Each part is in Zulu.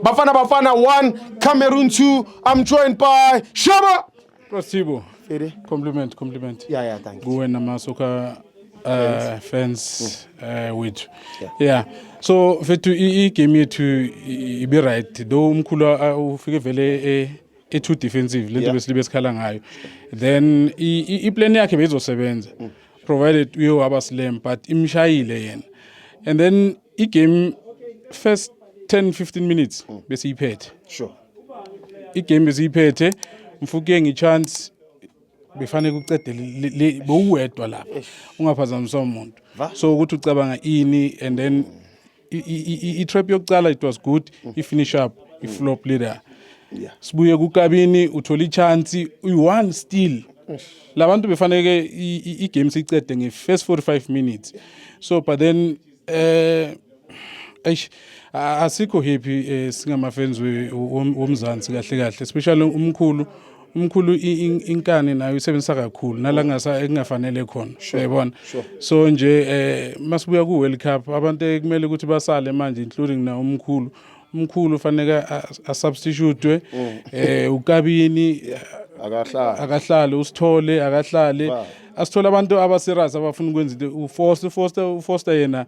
Bafana Bafana 1, Cameroon 2. I'm joined by Shaba. Rasibo. Fede. Compliment, compliment. Yeah, yeah, thank you. Kuwe namasoka uh, fans mm. uh, wethu. Yeah. yeah. So fethu i game yethu ibe right. Do umkhulu uh, ufike vele eh e too defensive lento besilibe sikhala ngayo. Then i plan yakhe beyizosebenza. Mm. provided uye waba slam but imshayile yena and then igame first 10 15 minutes mm. bese iphethe sure igame bese iphethe mfuke ngichance befane kucedele bowuwedwa lapha ungaphazamisa umuntu so ukuthi ucabanga ini and then i-trap yokucala it was good i-finish up i-flop leader sibuye kukabini uthola i-chance uyi-one still labantu befaneke i-game siyicede nge-first 45 minutes so but then eh eish asikho happy eh, singama-fans womzansi kahle kahle especially umkhulu umkhulu inkani nayo isebenzisa kakhulu nala ngasa ekungafanele khona uyabona so nje eh masibuya ku World Cup abantu ekumele ukuthi basale manje including na umkhulu umkhulu fanele asubstitute mm. eh ukabini akahlali akahlali usithole akahlali asithola abantu abaserious abafuna ukwenza into uFoster uFoster uFoster yena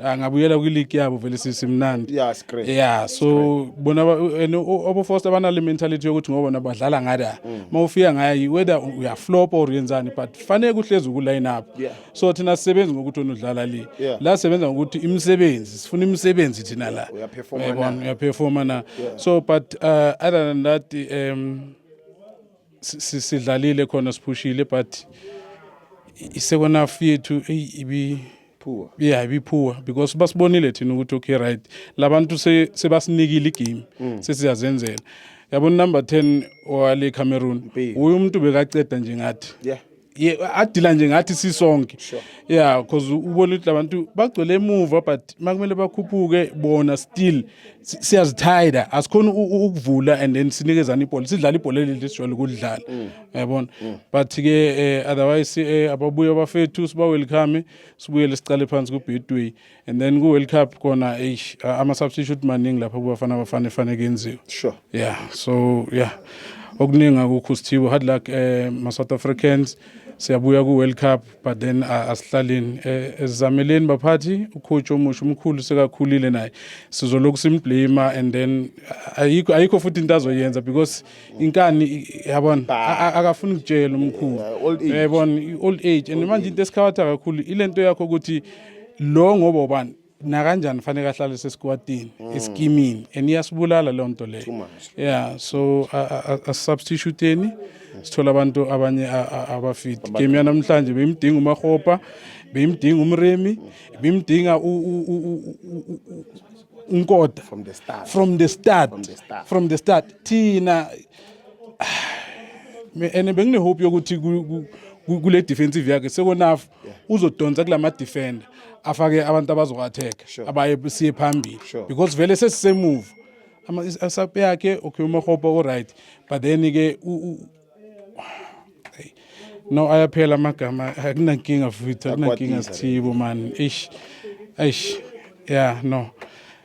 angabuyela kwiligi yabo vele sisimnandi yeah great yeah so bona obo first abana le mentality yokuthi ngoba nabadlala ngada mm. mawufika ngayi whether uya flop or yenzani but fanele kuhlezi ku line up so thina sisebenza ngokuthi onodlala le la sebenza ngokuthi imisebenzi sifuna imisebenzi thina la uya performer uya performer na so but uh, other than that um sidlalile khona siphushile but isekona fethu eyi ibi poor yeah be poor because basibonile thina ukuthi okay right labantu sebasinikile igame mm. sesiyazenzela yabo number 10 wale Cameroon uyu umuntu bekaceda nje ngathi yeah adila nje ngathi sisonke yeah because ubona ukuthi labantu bagcwele emuva but makumele bakhuphuke bona still siyazithayida asikhona ukuvula and then sinikezana ibhola sidlala ibhola leli sijwayele ukulidlala mm. yabona mm. but ke eh, otherwise eh, ababuye abafethu siba welcome sibuyele siqale phansi ku Betway and then ku World Cup kona eish ama substitute maningi lapha kubafana abafana efane kenziwe sure yeah so yeah okuningi akukho sithibo hard luck eh ma South Africans siyabuya ku World Cup but then asihlaleni eh, esizameleni baphathi ukhotshi omusha umkhulu sekakhulile naye sizolokhu simblame and then ayikho ayikho futhi into azoyenza because inkani yabona akafuni ukutshela umkhulu yabona old age and manje into esikhabatha kakhulu ilento yakho ukuthi lo ngoba ubani nakanjani fanele ahlale sesikwatini mm. esikimini and iyasibulala leyo nto leyo yeah so asubstituteni mm. sithola abantu abanye abafiti game yanamhlanje beyimdinga umahopa beyimdinga umremi mm. beyimdinga unkoda from the start from the start from the start thina and benginehope yokuthi kule defensive yakhe sekonafu uzodonsa kula ma-defender afake abantu abazoku-attack Sure. abaye siye phambili Sure. because vele sesisemuva Ama- is- asape yakhe okay umahopa o-right but then-ke u- u- Hey. no ayaphela amagama akunankinga futhi akunankinga Akwatiza. sithibo mani eish eish yeah no